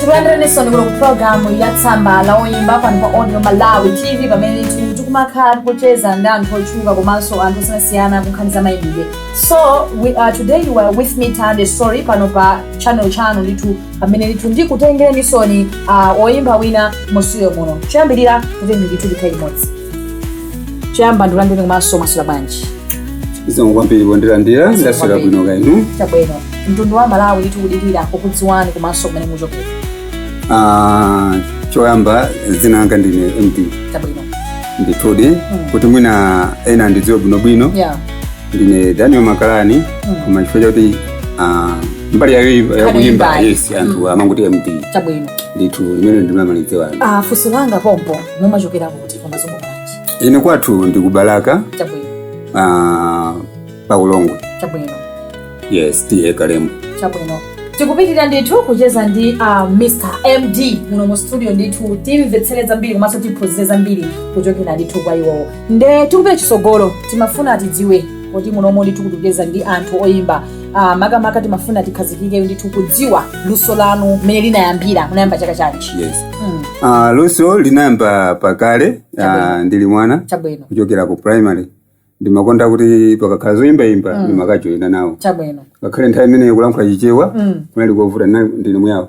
tikulandireniso ku programu ya tsamba la oyimba pano pa audio malawi tv pamene tikumakhala tikucheza ndi anthu otchuka komanso anthu osiyanasiyana kunkhani za mayimbidwe so today you are with me tande story pano pa channel chanu ndithu pamene ndithu ndikutengerenisoni uh, oyimba wina musiyo muno choyambirira kuti ndithu tikhale limodzi choyamba ndikulandireni komanso mwaswera bwanji zikomo kwambiri pondilandira ndaswera bwino kaya inu chabwino mtundu wa malawi ndithu kudikira kukudziwani komanso kumene muchokera Ah, choyamba dzina langa ndine md chabwino ndithudi kuti mwina ena andidziwe bwinobwino ya ndine daniel makalani koma chifukwa chakuti ah, mbali yakuyimba yes anthu amangoti md chabwino ndithu limene ndimamalidziwani funso langa pompo mumachokera kuti komanso pamudzi pa ndani ine kwathu ndi ku balaka chabwino ah, pa ulongwe chabwino yes ta kalembo chabwino tikupitirira ndithu kucheza ndi uh, mr md muno mu studio ndithu timvetsere zambiri komanso tiphunzire zambiri kuchokera ndithu kwa iwowo nde tikupita chisogolo timafuna tidziwe poti munomo ndithu tikucheza ndi anthu oyimba ah, makamaka timafuna tikhazikike ndithu kudziwa luso lanu mmene linayambira munayamba chaka chanji yes mm, Ah, luso linayamba pakale ah, Chabwino. ndili mwana chabwino kuchokera ku primary ndimakonda kuti pakakhala zoyimbayimba ndimakajoyina nawo chabwino ngakhale nthawi imeneyo kulankhula chichewa Mm. kunali kovuta ndine muyawo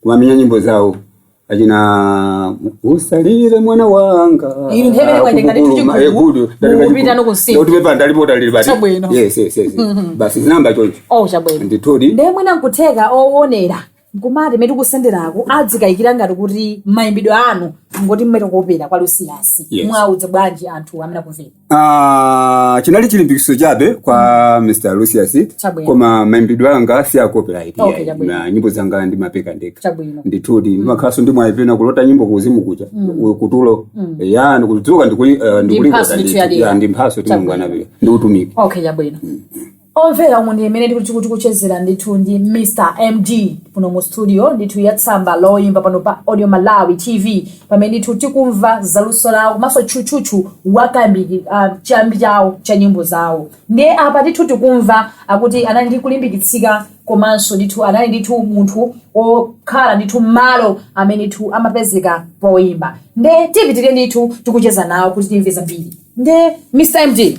kumamenya nyimbo zawo achina usalire mwana wanga Iri nthawi imene kwaje ngati Akubukulu, tichikuku, maekudu, ngati mukupita kachiku- nokunsinda. kuti pepa ndalipota lili basi. Chabwino. Yes, yes, yes, yes. basi zinayamba choncho oh chabwino ndithudi ndiye mwina nkutheka owonera nkumati mmene tikusenderako adzikayikira ngati kuti mayimbidwe anu ngoti mmene kopera kwa lucius Yes. muwauza bwanji anthu amene akumvera Ah, chinali chilimbikitso chabe kwa mr lucius Chabwino. koma mayimbidwe anga si a copyright Okay, chabwino. na nyimbo zanga ndimapeka ndekha chabwino ndithudi ndimakhalanso ndi mwayi pena kulota nyimbo kuuzimu kuja ku- kutulo ya ndikudzuka ndikuli- eh, ndikulinga mphatso ndithu ya dera. ya, ndi mphatso Chabwino. timungwanapile ndi utumiki okay chabwino Omvera umu ndi mmene tikuchezera ndithu ndi Mr MD kuno mu studio ndithu ya tsamba loyimba pano pa Audio Malawi TV pamene ndithu tikumva zaluso lawo komanso tchutchutchu wachambi uh, chimbale chawo cha nyimbo zawo ndiye apa ndithu tikumva akuti anali ndi kulimbikitsika komanso ndithu anali ndithu munthu okhala ndithu malo amene ndithu amapezeka poyimba nde tipitirire ndithu tikucheza nawo kuti timve zambiri nde Mr MD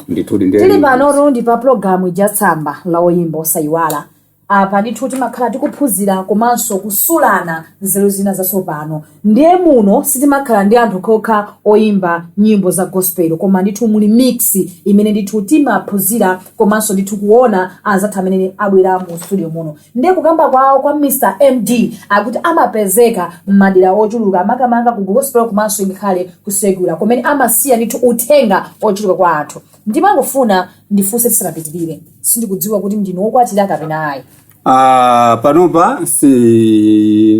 ndithudi ndiye tili panotu ndi pa pulogalamu ija tsamba la oyimba osayiwala apa ndithu timakhala tikuphunzira komanso kusulana nzeru zina zatsopano ndiye muno sitimakhala ndi anthu kokha oyimba nyimbo za gospel koma ndithu muli mix imene ndithu timaphunzira komanso ndithu kuona anzathu amene abwera mu studio muno Nde kukamba kwawo kwa Mr MD akuti amapezeka mmadera ochuluka makamaka ku gospel komanso ngakhale ku secular kumene amasiya ndithu uthenga ochuluka kwa anthu. Ndimangofuna ndifunse tisanapitilire, sindikudziwa kuti ndinu wokwatira kapena ayi. Ah, panopa si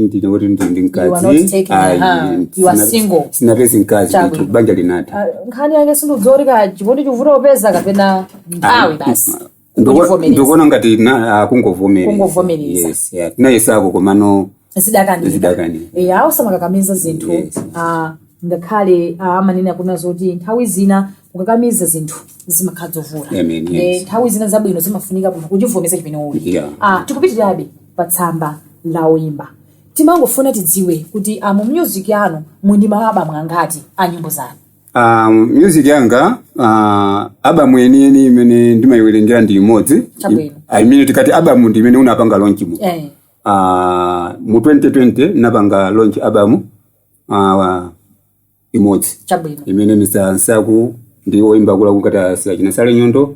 ndine kuti ndi ndi You are not mkazi taking a Ayi, hand. You are sina- single. sinapezi mkazi Chabwino. ndithu banja linatha Ah, nkhani yake sindiudzorika chikondi chikuvuta kupeza kapena nthawi basi. Ndoko- Kundivomereza. ndikuona ngati na- akungovomereza Kungovomereza. Yes, yeah. tinayesako komano zidakanika Zidakanika. e, awo samakakamiza zinthu Yes. ah, ngakhale ah, amanena kunena zoti nthawi zina ukakamiza zinthu zimakhala zovuta Amen, Eh, yes. nthawi zina zabwino zimafunika munthu kuchivomereza chimene uli Yeah. Ah, tikupitirirabe pa tsamba la oyimba timangofuna tidziwe kuti ah, mu music yanu muli ndi ma abamu angati a nyimbo zanu Um, music yanga uh, abamu yeniyeni imene ndimayiwerengera ndi imodzi Chabwino. I- imene tikati abamu ndi imene unapanga launch mu Eh. uh, mu 2020 napanga launch abamu uh, imodzi chabwino imene misa nsaku ndi oyimba kula kukata sila china sale nyondo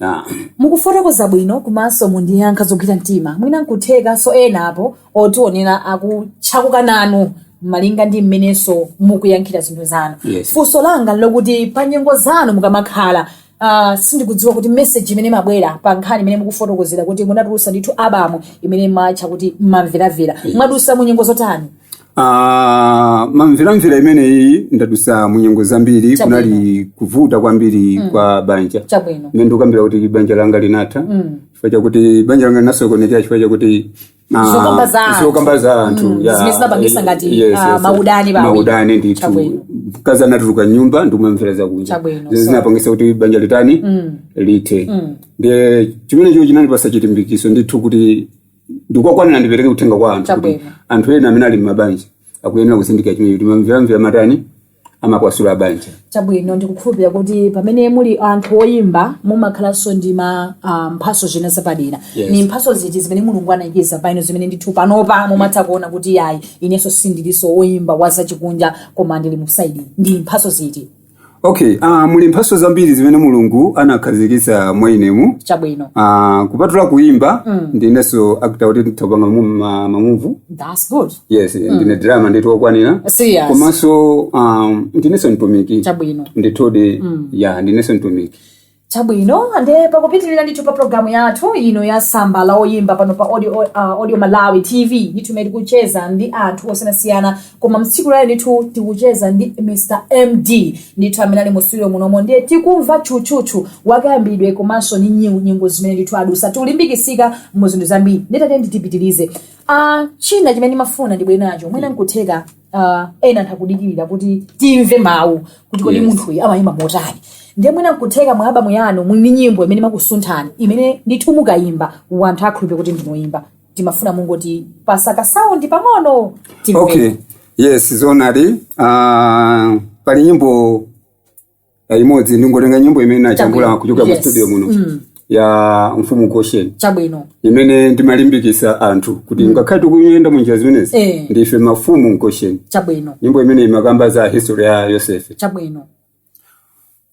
Ah, mukufotokoza bwino komanso mundiyankha zogwira mtima mwina nkutheka so ena apo otionera akutchakuka nanu malinga ndi mmenenso mukuyankhira zinthu zanu Yes. funso langa nlokuti pa nyengo zanu mukamakhala Uh, sindikudziwa kuti message imene mabwera pa nkhani imene mukufotokozera kuti munatulusa ndithu abamu imene matcha kuti mamveramvera mwadusa mu nyengo zotani Ah, mamveramvera imeneyi ndadusa munyengo zambiri Chabwino. kunali kuvuta kwambiri kwa banja chabwino mmene ndikukambira kuti banja langa linatha chifukwa chakuti banja langa linasokonekera chifukwa chakuti ah, Zokamba za anthu. zokamba za anthu Mm, ya- zimene zimapangisa ngati, yes, ah, yes, maudani pa awiri. maudani ndithu Chabwino. mkazi anatuluka mnyumba ndikumamvera zakunja Chabwino, Zimene so. zinapangisa kuti banja litani lithe ndiye chimenecho chinandipasa chilimbikiso ndithu kuti ndikokwanira ndipereke uthenga kwa anthu kuti Chabwino. anthu ena amene ali mmabanja akuyenera kuzindikira chimene kuti mamveramvera amatani amapasula mabanja chabwino ndikukhulupirira kuti pamene muli anthu oyimba mumakhalanso ndi ma ah, mphaso zina zapadera Yes. ni mphaso ziti zimene mulungu anayikiza pa inu zimene ndithu panopa mumatha kuona kuti ayi inenso sindilinso oyimba wa zachikunja koma ndili mu side ndi mphaso ziti okay uh, muli mphaso zambiri zimene mulungu anakhazikitsa mwa inemu chabwino uh, kupatula kuimba mm. ndinenso actor kuti nditha kupanga mamuvu that's good yes mm. ndine drama ndithu okwanira serious komanso um, ndinenso mtumiki chabwino ndithudi mm. ya ndinenso mtumiki chabwino nde pakupitirira ndithu pa programu yathu ino ya samba la oyimba pano pa audio, uh, audio malawi tv ndithu imene tikucheza ndi anthu osiyanasiyana koma mtsiku lalero ndithu tikucheza ndi mr md ndithu amene ali mu studio munomo ndiye tikumva tchutchutchu wakayambidwe komanso ndi nyi- nyimbo zimene ndithu adusa ndikulimbikitsika mu zinthu zambiri nditati nditipitirize uh, china chimene ndimafuna ndibwere nacho mwina nkutheka uh, ena anthu akudikirira kuti timve mawu kuti kodi Yes. munthuyu amayimba motani ndiye mwina nkutheka mwa album yanu muli ndi nyimbo imene imakusunthani imene ndithu mukayimba wanthu akhulupire kuti ndinu oyimba timafuna mungotipatsako saundi pang'ono timve. okay yes zoonadi uh, pali nyimbo imodzi ndingotenga nyimbo imene ndinajambula Chabwino. kuchokera mu Yes. studio muno Mm. ya mfumu mgoshen chabwino imene ndimalimbikisa anthu kuti ngakhale tikuyenda munjira zimenezi Eh. ndife mafumu mgoshen chabwino nyimbo imene imakamba za history ya yosefe chabwino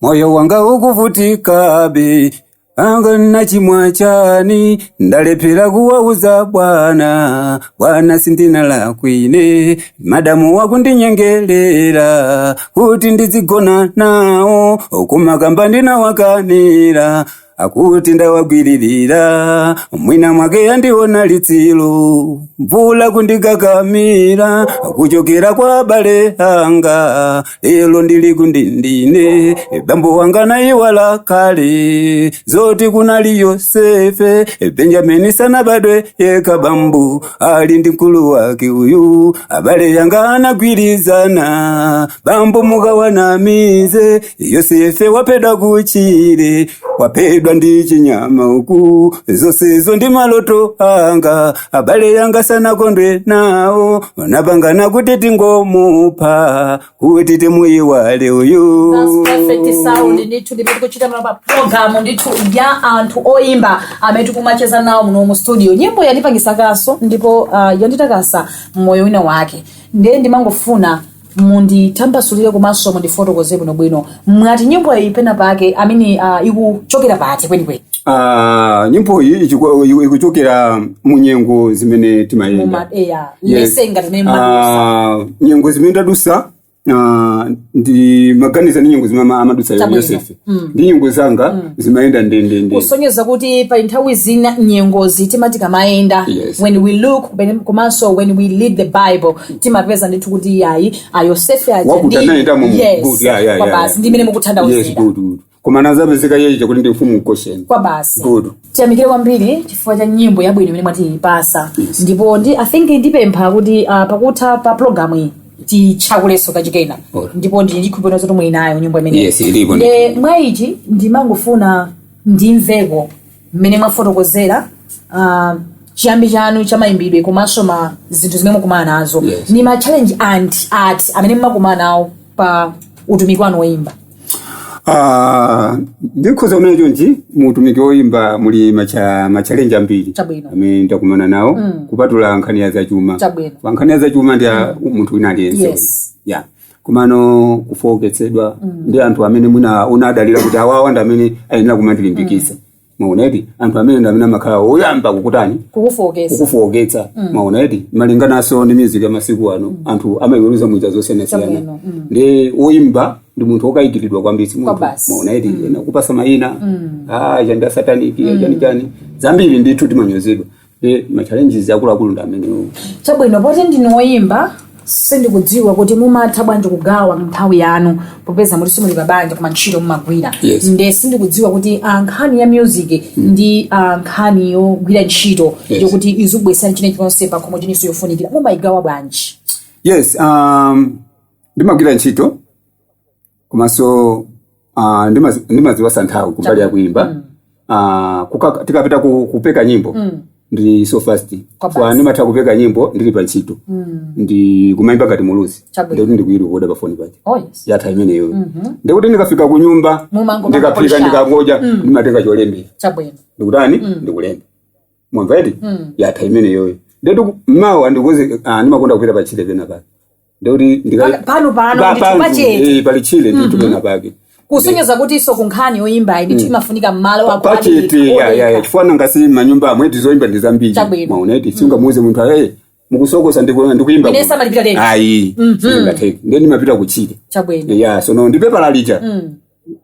moyo wanga ukuvutikabe wanga ndachimwa chani ndalephera kuwauza bwana bwana sindinalakwe ine madamu akundinyengelera kuti ndidzigona nawo kumakamva ndinawakanira akuti ndawagwiririra mwina mwake yandiona litsilo mvula ikundikakamira kuchokera kwa abale anga lelo ndili kundende ine bambo wanga anayiwala kale zoti kunali yosefe benjamini sanabadwe yekha bambo ali ndi mkulu wake uyu abale yanga anagwirizana bambo mukawanamize yosefe waphedwa kutchire waphedwa ndi chinyama uku zonsezi ndi maloto anga abale yanga sanakondwe nawo anapangana kuti tingomupha kuti timuyiwale uyu perfect sound ndithu ndimene tikuchitamo apa pa program ndithu ya anthu oyimba amene tikumacheza nawo muno mu studio nyimbo yandipangisakanso ndipo uh, yanditakasa mmoyo wina wake ndiye ndimangofuna munditambasulire komanso mundifotokozere bwinobwino mwati nyimbo iyi pena pake amene uh, ikuchokera pati kwenikweni Ah, nyimbo iyi ichiku- iku- ikuchokera mu nyengo zimene timayenda Muma- eya, Yes. lese ngati mene mwadutsa. Ah, nyengo zimene tadutsa ah, ndimaganiza ndi nyengo zimene ama- amadutsa Chabwino. yosefe ndi nyengo zanga zimayenda ndendende kusonyeza kuti pali nthawi zina nyengozi timati tikamayenda Yes. when we look kumene- komanso when we read the bible timapeza ndithu kuti iyayi ayosefe aja wakuti ndi- anayendamo mu- Yes, good, yeah, yeah, yeah, kwabasi yeah. ndi imene yes mukuthandauzira good good koma anadzapezeka iye uja kuti ndi mfumu mgoshen kwabasi good tiyamikire kwambiri chifukwa cha nyimbo yabwino imene mwatipasa Yes. ndipo ndi i think ndipempha kuti uh, pakutha pa programu iyi tichakuleso kachikena ndipo ndikhulupirira zoti muli nayo nyimbo imeneyi Yes, ilipo ndi. Nde mwa ichi ndimangofuna ndimveko mmene mwafotokozera uh, chiyambi chanu cha mayimbidwe komanso ma zinthu zimene mukumana nazo Yes. ni ma challenge ati amene mumakumana nawo pa utumiki wanu woyimba Ah, ndikhoza kunena chonchi mu utumiki woyimba muli macha machalenji ambiri Chabwino. amene ndakumana nawo Mm. kupatula nkhani ya zachuma Chabwino. pa nkhani ya zachuma ndi ya munthu wina aliyense Yes. ya komano kufooketsedwa ndi anthu amene mwina unadalira kuti awawa ndi amene ayenera kumandilimbikitsa maona eti anthu amenewo ndi amene amakhala oyamba kukutani kukufooketsa kukufooketsa maona eti malingananso ndi music ya masiku ano anthu amayiweruza munjira zosiyanasiyana Chabwino, mm. ndi woyimba ndi munthu wokayikiridwa kwambiri si munthu Kwabasi. maona eti ena kukupatsa mayina ah chani cha sataniki chani chani zambiri ndithu timanyozedwa e ma challenges akuluakulu ndi amenewo chabwino poti ndinu woyimba sindikudziwa kuti mumatha bwanji kugawa nthawi yanu popeza muli simuli pabanja koma ntchito mumagwira Yes. nde sindikudziwa kuti ah, nkhani ya music ndi ah, nkhani yogwira ntchito Yes. yokuti izikubweretsani china chonse pakhomo chilinso chofunikira mumayigawa bwanji yes um, ndimagwira ntchito komanso ah, ndimazi- ndimazipasa nthawi kumbali ya kuimba Ah, kuka- tikapita ku- kupeka nyimbo ndi so fast Kwa so basi. ndimatha kupeka nyimbo ndili pa ntchito ndi kumaimba ngati muluzi Chabwino. ndekuti ndikuirekoda pa foni pake Oh, yes. yatha imeneyo ndekuti ndikafika ku nyumba Mumango ndikafika kukonza. ndikangoja ndimatenga cholembera chabwino ndikutani ndikulemba mwamva eti yatha imeneyoyo ndekuti mawa ndikuze ah, ndimakonda kupita pa chile pena pake ndekuti ndika- Pa- pano pano, Pa- ndithu pantu, pachete. eh, pali chile ndithu pena pake kusonyeza kuti inso ku nkhani yoyimbayi ndithu imafunika mmalo ako pachete adekha, ya ya ya odekha. chifukwa nanga si manyumba amwetu zoyimba ndi zambiri Chabwino. maona eti sungamuuze munthu ayi mukusokosa ndiku- ndikuyimba Ine samalipira leti. ayi sizingatheke nde ndimapita kuchile chabwino ya sono ndipepala lija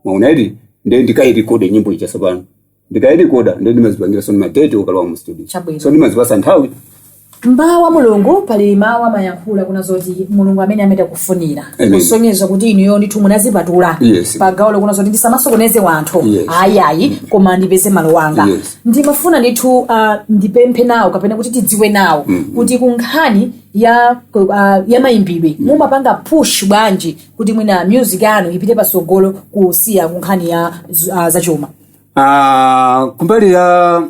maona eti nde ndikairekode nyimbo ija sopano ndikayirekoda ndiye ndimazipangira so ma date okalowa mu studio Chabwino. so ndimazipasa nthawi mdala wa mulungu pali mawu amayankhula kuna zoti mulungu amameta amene akufunira Amen. kusonyeza kuti inuyo ndithu munazipatula Yes. pa gawo lokuna zoti ndisamasokoneze wanthu Yes. ayayi koma ndipeze malo wanga Yes. ndimafuna ndithu uh, ndipemphe nawo kapena kuti tidziwe nawo kuti ku nkhani ya uh, ya mayimbidwe mumapanga push bwanji kuti mwina music yanu ipite pasogolo kusiya ku nkhani ya uh, zachuma Ah, kumbali ya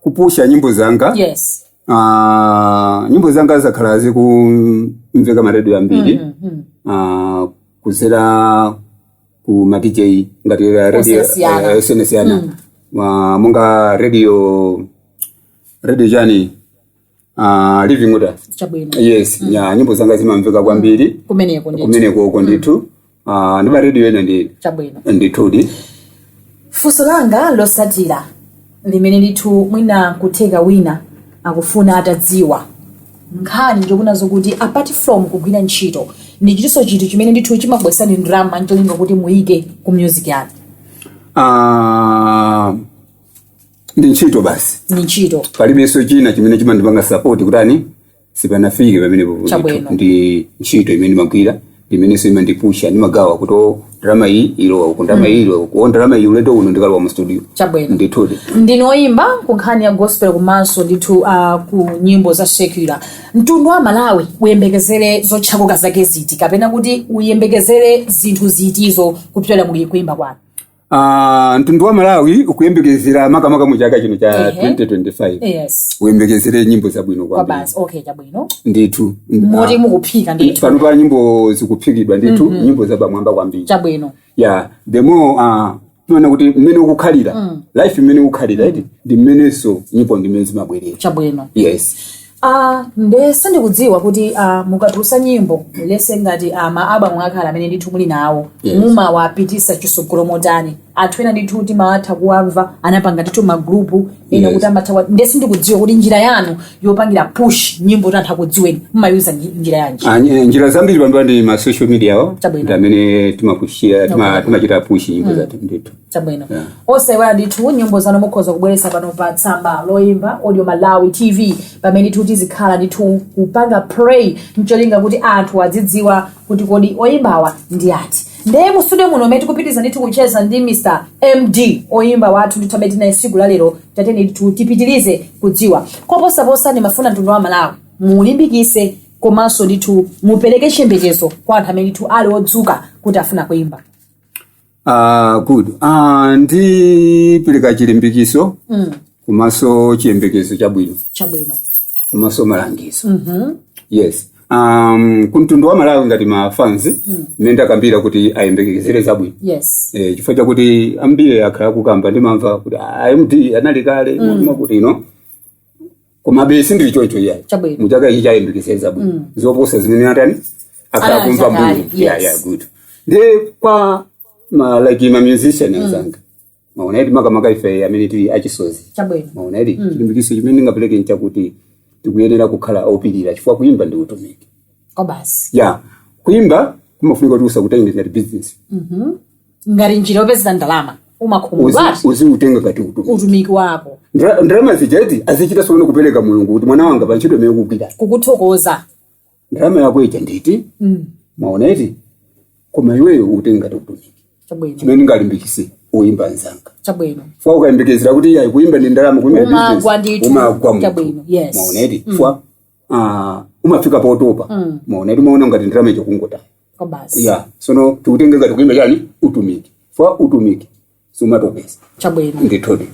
kupusha nyimbo zanga yes ah, nyimbo zanga zakhala zikumveka ma radio ambiri Mhm. ah, kuzera ku ma DJ ngati a radio Osiyanasiyana. eh, osiyanasiyana. Ah, monga radio radio chani uh, living order chabwino yes ya nyimbo zanga zimamveka kwambiri kumeneko ndithu kumenekoko ndithu uh, ndi ma radio ena ndi chabwino ndithudi funso langa losatira limene ndithu mwina kutheka wina akufuna atadziwa nkhani ndi kunena zokuti apart from kugwira ntchito ndi chitinso chinthu chimene ndithu chimabweresani ndalama ncholinga kuti muyike ku music yanu Ah, ndi ntchito basi ndi ntchito palibenso china chimene chimandipanga support kutani sipanafike pamenepopo Chabwino. ndithu. ndi ntchito imene ndimagwira imenenso imandipusha ndimagawa kuti o ndalama iyi ilowa uku ndalama iyi ilowa uku o ndalama iyi ulendo uno ndikalowa mu studio Chabwino. ndithudi ndinu oyimba ku nkhani ya gospel komanso ndithu uh, ku nyimbo za secular mtundu wa malawi uyembekezere zochakuka zake ziti kapena kuti uyembekezere zinthu zitizo kupyolera mu kuyimba kwanu Ah, mtundu wa malawi uyembekezere makamaka mu chaka chino cha Ehe. 2025 yes uyembekezere nyimbo zabwino kwambiri kwabasi okay chabwino ndithu moti mukuphika ndithu panopa nyimbo zikuphikidwa ndithu nyimbo zapamwamba kwambiri chabwino yeah the more ah, timaona kuti mmene ukukhalira life mmene ukukhalira iti ndi mmenenso nyimbo ndimene zimabwerera chabwino yes Ah, nde sindikudziwa kuti ah, mukatulusa nyimbo let's say ngati ah, ma album akale amene ndithu muli nawo Yes. mumawapitisa chisogolo motani anthu ena ndithu timatha kuwamva anapanga ndithu magrupu ena Yes. kuti amatha kuwa- nde sindikudziwa kuti njira yanu yopangira push nyimbo kuti anthu akudziweni mumayuza nji- njira yanji Ah, nye- njira zambiri panopa ndi ma social media awo Chabwino. ndi amene timapushira tima- timachita push nyimbo zathu ndithu chabwino yeah. osaiwala ndithu nyimbo zanu mukhoza kubweretsa pano pa tsamba loyimba audio malawi tv pamene ndithu tizikhala ndithu kupanga play ncholinga kuti anthu azidziwa kuti kodi oyimbawa ndi ndani ndeye mu studio muno mmene tikupitiriza ndithu kucheza ndi mr md oyimba wathu ndithu amene tinaye siku la lero tatiyeni ndithu tipitirize kudziwa koposaposa ndimafuna mtundu wa malawi mulimbikise komanso ndithu mupereke chiyembekezo kwa anthu amene ndithu ali ozuka kuti afuna kuyimba Ah, good ah, ndipereka chilimbikiso mm. komanso chiyembekezo chabwino chabwino komanso malangizo Mhm. yes um, kumtundu wa malawi ngati mafanzi mmene ndakambira kuti ayembekezere zabwino yes eh, chifukwa chakuti ambiri akhala akukamba ndimamva kuti "Ah, md anali kale mwakuti ino komabe sindili choncho iyayi Chabwino. muchaka ichi ayembekezere zabwino Mm. zoposa zimene akhala Anali kumva zakale, mbuyo yeah, yes. yeah, good ndiye kwa ma, like ma musician anzanga mwaona eti makamaka ife amene tili achisozi chabwino mwaona eti chilimbikitso chimene ndingapereke nchakuti tikuyenera kukhala opirira chifukwa kuimba ndi utumiki basi ya kuimba kumafunika kuti usakutenge ngati business Mhm. ngati njira yopezera ndalama umakhumudwa Uzi- uzikutenga ngati utumiki utumiki wako Ndra- ndalama zijazi azichita kudzakupatsa Mulungu kuti mwana wanga pa ntchito imene ukugwira kukuthokoza ndalama yako ija ndi iyi Mm, mwaona eti koma iweyo utenge ngati utumiki chabwino chimene ndingalimbikise oyimba anzanga chabwino fwa ukayembekezera kuti ayi kuyimba ndi ndalama kuyimba ndi Umagwa business, ndithu. umagwa munthu. Chabwino, yes. Mwaona eti fwa ah, umafika potopa Mm. mwaona eti umaona ngati ndalama ukungotaya basi ya sono tikutenge ngati kuimba chani utumiki fwa utumiki sumatopetsa chabwino ndithudi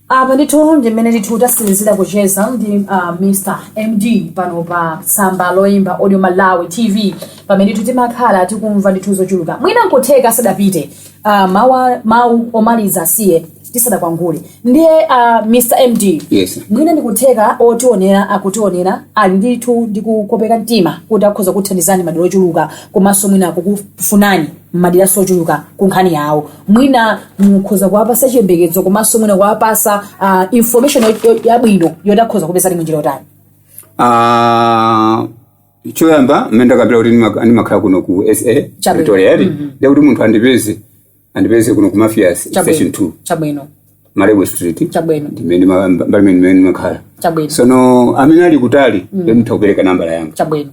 apa ndithu ndimene ndithu tatsirizira kucheza ndi uh, mr md pano pa tsamba loyimba audio malawi tv pamene ndithu timakhala tikumva ndithu zochuluka mwina nkutheka asadapite uh, mawa- mawu omaliza asiye tisadakwangule ndiye uh, mr md Yes. mwina ndikutheka otionera akutionera ali ndithu ndi kukopeka mtima kuti akhoza kuthandizani madera ochuluka komanso mwina kukufunani madera ochuluka ku nkhani yawo mwina mukhoza kuwapasa chiyembekezo komanso mwina kuwapasa uh, information yo- yo- yabwino yoti akhoza kukupezani munjira yotani Ah, choyamba mmene ndakambira kuti ndima- ndimakhala kuno ku sa Chabwino. pretoria eti ndekuti munthu andipeze andipeze kuno ku mafias station chabwino 2 chabwino malebo street chabwino ndimene ma- mbali imene imene ndimakhala chabwino sono amene ali kutali nditha kupereka nambala yanga chabwino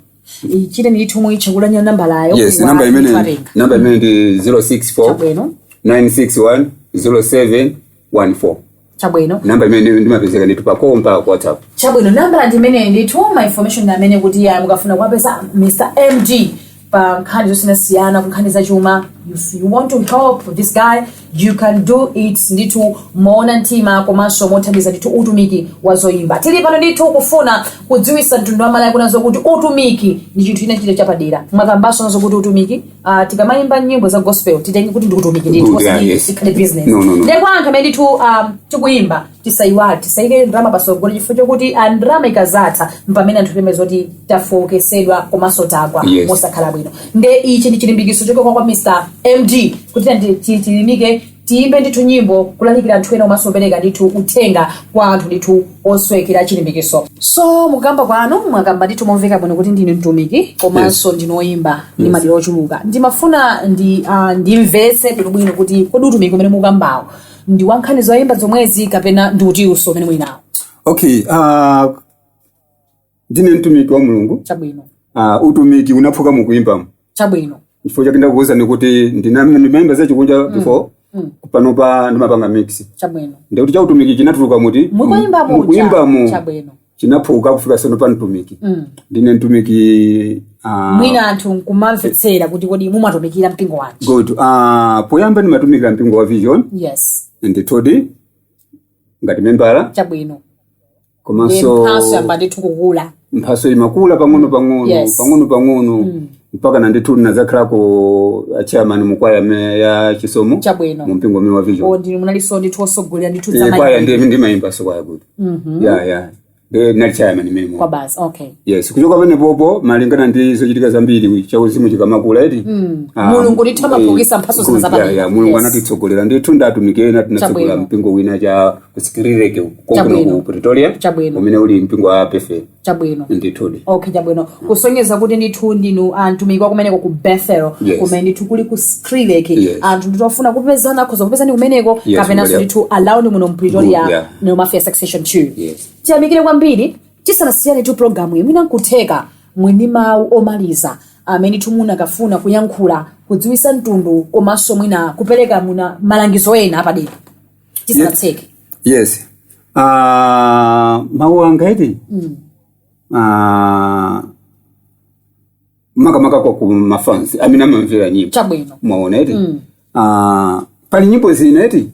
chitani ndithu muitchule nambalayo yes wa- namba imene nditwatenga. namba imene ndi 064 chabwino 961 0714 chabwino namba imene ndimapezeka ndithu pa call mpaka ku whatsapp chabwino nambala ndi imeneyi ndithu ma information amene kuti mukafuna kuwapeza mr md pa nkhani zosiyanasiyana ku nkhani zachuma if you want to help this guy you can do it ndithu moona mtima komanso mothandiza ndithu utumiki wa zoyimba tili pano ndithu kufuna kudziwisa mtundu wa malawi kunjako kuti utumiki ndi chinthu china chake chapadera mwakambaso nanu kuti utumiki Uh, tikamayimba nyimbo za gospel titenge kuti ndi utumiki ndithu Good, yeah, osati yes. ikhale business No, no, no. ndipo anthu amene ndithu um, tikuyimba tisayiwale tisayike ndalama pasogolo chifukwa chokuti ah, ndalama ikadzatha mpamene anthu timamva zoti tafooketsedwa komanso tagwa Yes. mosakhala bwino nde ichi ndi chilimbikitso chochokera kwa mr md kuti tiyeni ti- ti- tilimbike Tiyimbe ndithu nyimbo kulalikira anthu ena komanso kupereka ndithu uthenga kwa anthu ndithu osowekera chilimbikitso. So mukukamba kwanu mwakamba ndithu momveka bwino kuti ndinu mtumiki komanso ndinu oyimba ndi madera ochuluka. Ndimafuna ndimvetse bwinobwino kuti kodi utumiki umene mukukambawo ndi wa nkhani zoyimba zomwezi kapena ndi utinso umene muli nawo. okay uh, ndine mtumiki wa mulungu chabwino uh, utumiki unaphuka mukuimbamo chabwino chifukwa chake ndakuwuzani kuti ndina- ndimayimba zachikunja before Mm. panopa ndimapanga mix chabwino ndikuti cha utumiki chinatuluka kuti mukuimba muja mukuimbamo chabwino chinaphuka kufika sono pa mtumiki Mm. ndine mtumiki uh, mwina anthu nkumamvetsera kuti kodi mumatumikira mpingo wanji good uh, poyamba ndimatumikira mpingo wa vision yes ndithudi ngati membala chabwino komanso mphaso yamba ndithu kukula mphaso imakula pang'ono pang'ono Yes. pang'ono pang'ono mpakana ndithu ndinadzakhalako chairman mukwaya me- ya chisomo chabwino mu mpingo umene wa vision wo ndinu munalinso ndithu osogolera ndithu Eh, kwaya zamayi ndi ndimayimbanso kwaya good ya ya Ndi- ndinali chairman imeneyo basi okay yes kuchoka pamenepopo malingana ndi zochitika zambiri chauzimu chikamakula eti Ah, Mulungu ndithu eh, amaphukisa mphatso zina good, zapadera. yeah, yeah, mulungu Yes. anatitsogolera ndithu ndatumikira Chabwino. tinatsogola mpingo wina cha ku skrilek uku konkuno Chabwino. ku pretoria Chabwino. umene uli mpingo wa bethel chabwino ndithudi okay chabwino kusonyeza kuti ndithu ndinu atumiki kumeneko ku bethel Yes. kumene ndithu kuli ku skrilek Yes. anthu ndithu afuna kupezana akhoza kupezani kumeneko Yes, kapenanso Maria. ndithu alawuni muno mu pretoria Good, yeah. no mafia section 2 Yes. tiyamikire kwambiri tisanasiyanetu programu imene nkutheka mwina mawu omaliza amene ndithu munakafuna kuyankhula kudziwisa mtundu komanso mwina kupereka mwina malangizo ena apadera tisanatseke yes Ah, mawu anga eti Mm. Ah, makamaka kwa ku mafans amene amamvera nyimbo chabwino mwaona eti Mm. Ah, pali nyimbo zina eti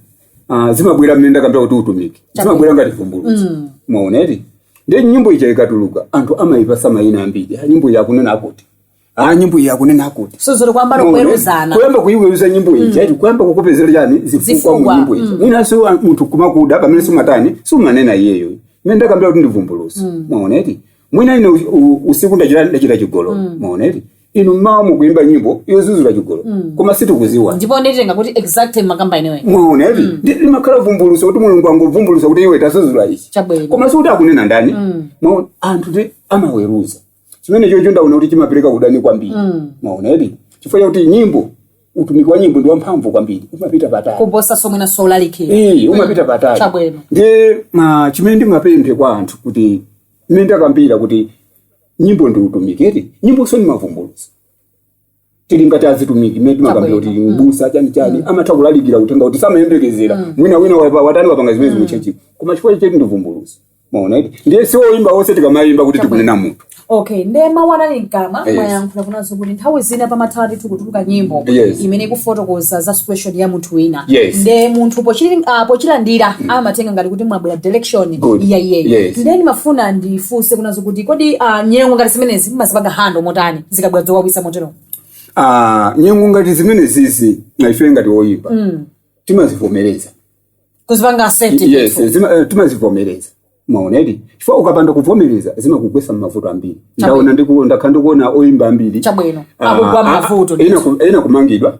ah, zimabwera mmene ndakambira kuti utumiki zimabwera ngati vumbulutso Mm. mwaona eti ndiye nyimbo ija ikatuluka anthu amayipasa mayina ambiri Ah, nyimbo iyi akunena akuti Ah, nyimbo iyi akunena akuti so zili kuyamba Muone, nokuweruzana kuyamba kuiweruza nyimbo ija eti kuyamba kukupezera chani zifukwa Zifukwa, mu nyimbo ija mwina si wa- munthu kumakuda pamene simatani siumanena iyeyo mmene ndakambira kuti ndi vumbuluso mwaona eti mwina ine u- u- usiku ndachita ndachita chigololo mwaona eti inu mmawa mukuimba nyimbo yozuzula chigololo koma simukuziwa ndipo nditenga kuti exactly mukukamba ineyo mwaona eti ndiye limakhala vumbuluso kuti mulungu angovumbulusa kuti iwe tazuzula ichi Chabwino. koma sikuti akunena ndani Mwaona, anthu eti amaweruza chimene chocho ndaona kuti chimapereka udani kwambiri Mm. mwaona eti chifukwa chakuti nyimbo utumiki wa nyimbo ndi wamphamvu kwambiri umapita patali kuposa mwinanso ulalikira Eh, umapita patali Chabwino. ndiye ma chimene ndingapemphe kwa anthu kuti mmene ndakambira kuti nyimbo ndi utumiki eti nyimbonso ndi mavumbulutso tili ngati azitumiki mmene timakambira kuti Chabwino. mbusa chani chani amatha kulalikira uthenga kuti samayembekezera mwina wina wapa- watani wapanga zimene zikuchechi koma chifukwa choti ndi vumbulutso mwaona eti ndiyeso oyimba onse tikamayimba kuti tikunena munthu okay nde mawu anali mkamwa Yes. mwayankhula kunazo kuti nthawi zina pamatha ndithu kutuluka nyimbo Yes. imene ikufotokoza za situation ya munthu wina Yes. nde munthu pochili- ah, pochilandira amatenga ngati kuti mwabwera direction Good. ya iyeyo Yes. nde ndimafuna ndifunse kunazo kuti kodi ah, nyengo ngati zimenezi mumazipanga hando motani zikabwera zowawitsa motero Ah, nyengo ngati zimene zizi na ife ngati oyimba timazivomereza kuzipanga accept yes ndithu. zima- eh, timazivomereza mwaona eti chifukwa ukapanda kuvomereza zimakugwesa mmavuto ambiri ndaona ndiku- ndakhala ndikuona oyimba ambiri Chabwino. Ah, Akugwa ah, mmavuto, ah, ena ku- ena kumangidwa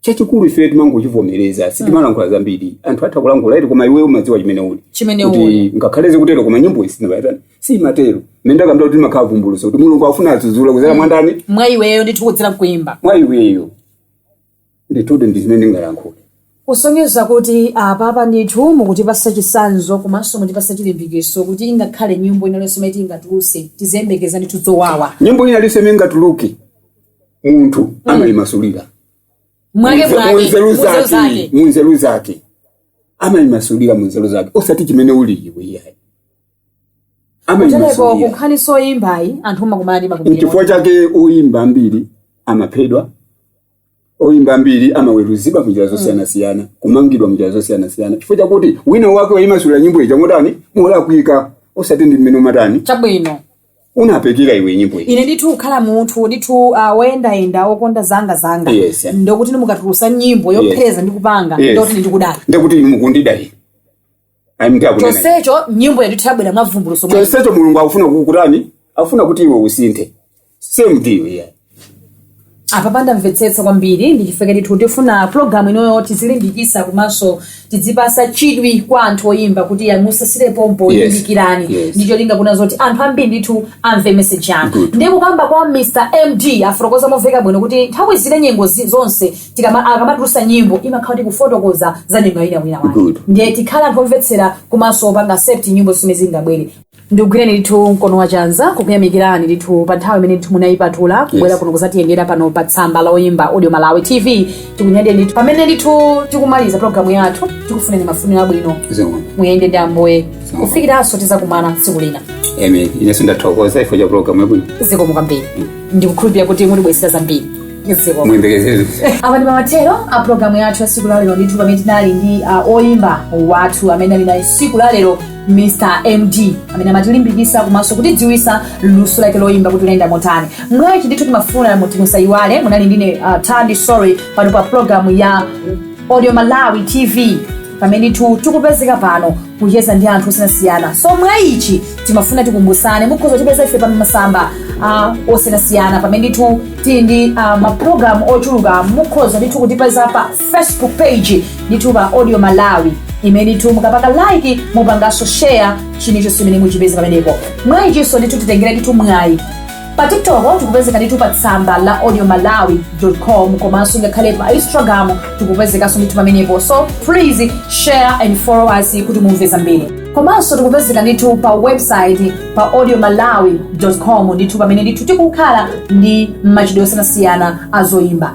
chachikulu ife timangochivomereza sitimalankhula zambiri anthu atha kulankhula eti koma iwe umadziwa chimene uli Chimene Kuti uli. ngakhale zikutero koma nyimbo isinabayatani simatero mmene ndakambira kuti makhala vumbuluso kuti mulungu afuna azudzule kuzera mwandani mwa iweyo ndithu kudzera mkuimba mwa iweyo ndithu nde ndi zimene ndingalankhule kusonyeza kuti apapa ndithu mukutipasa chisanzo komanso mutipasa chilimbikitso kuti ingakhale nyimbo ina iliyonse imene tingatuluse tiziyembekeza ndithu zowawa nyimbo ina iliyonse imene ingatuluke munthu amayimasulira mwake mwake munzeru muzo zake zake munzeru zake amayimasulira munzeru zake osati chimene uli iwe iyayi kuteroko amayimasulira kunkhani zoyimbayi anthu umakumana ndi mavutodi nchifukwa chake oyimba ambiri amaphedwa oyimba ambiri amaweruzidwa munjira zosiyanasiyana kumangidwa munjira zosiyanasiyana chifukwa chakuti wina wake wayimasulira nyimbo ija motani molakwika osati ndi mmene umatani chabwino unapekera iwe nyimbo iyi ine ndithu kukhala munthu ndithu uh, woyendayenda wokonda zanga zanga Yes. ndikuti inu mukatulusa nyimbo yophereza ndi kupanga Yes. ndikuti ndikuda ine ndikuti inu mukundida ayi munthu akunena chonsecho nyimbo ija ndithu yabwera mwavumbuluso mwa chonsecho mulungu akufuna kukutani akufuna kuti iwe usinthe same idea yeah. apa pandamvetsetsa kwambiri ndi chifukwa ndithu tifuna pulogalamu inoyo tizilimbikisa komanso tidzipasa chidwi kwa anthu oyimba kuti ya musasire pompo Yes. limbikirani Yes. ndi cholinga kunazoti anthu ambiri ndithu amve meseji yanu Good. ndiye kukamba kwa mr md afotokoza momveka bwino kuti nthawi zina nyengo zi- zonse tikama- akamatulusa nyimbo imakhala kuti kufotokoza za nyengo ya wina wake Good. ndiye tikhala anthu omvetsera komanso kupanga accept nyimbo zimene zingabwere ndikugwireni ndithu mkono wa chanza kukuyamikirani ndithu pa nthawi imene ndithu munayipatula kubwera kuno kuzatiyendera pano pa tsamba la oyimba audio malawi tv tikunyadira ndithu pamene ndithu tikumaliza programu yathu tikufuneni mafuniro abwino zikomo muyende ndi ambuye Zikomo. kufikiranso tizakumana tsiku lina amen inenso ndathokoza chifukwa cha programu yabwino zikomo kwambiri ndikukhulupirira kuti mutibwezera zambiri zikomo muyembekezere apa ndi mathero a programu yathu ya siku lalero ndithu pamene tinali ndi uh, oyimba wathu amene tinali naye siku lalero Mr MD amene amatilimbikisa komanso kutidziwisa luso lake loyimba kuti linayenda motani mwaichi ndithu timafuna kuti musayiwale munali ndine uh, Thandi Sory pano pa program ya Audio Malawi TV pamene ndithu tikupezeka pano kucheza ndi anthu osiyanasiyana so mwaichi timafuna tikumbusane mukhoza kutipeza ife pa masamba uh, osiyanasiyana pamene ndithu tili ndi uh, maprogramu ochuluka mukhoza ndithu kutipeza pa facebook page ndithu pa audio malawi imene ndithu mukapanga like mupanganso share chilichonse chimene muchipeze pamenepo mwayichinso ndithu titengera ndithu mwayi pa tiktok tikupezeka ndithu pa tsamba la audio malawi com komanso ngakhale pa instagram tikupezekanso ndithu pamenepo so please share and follow us kuti mumve zambiri komanso tikupezeka ndithu pa website pa audio malawi com ndithu pamene ndithu tikukhala ndi machitidwe osiyanasiyana azoyimba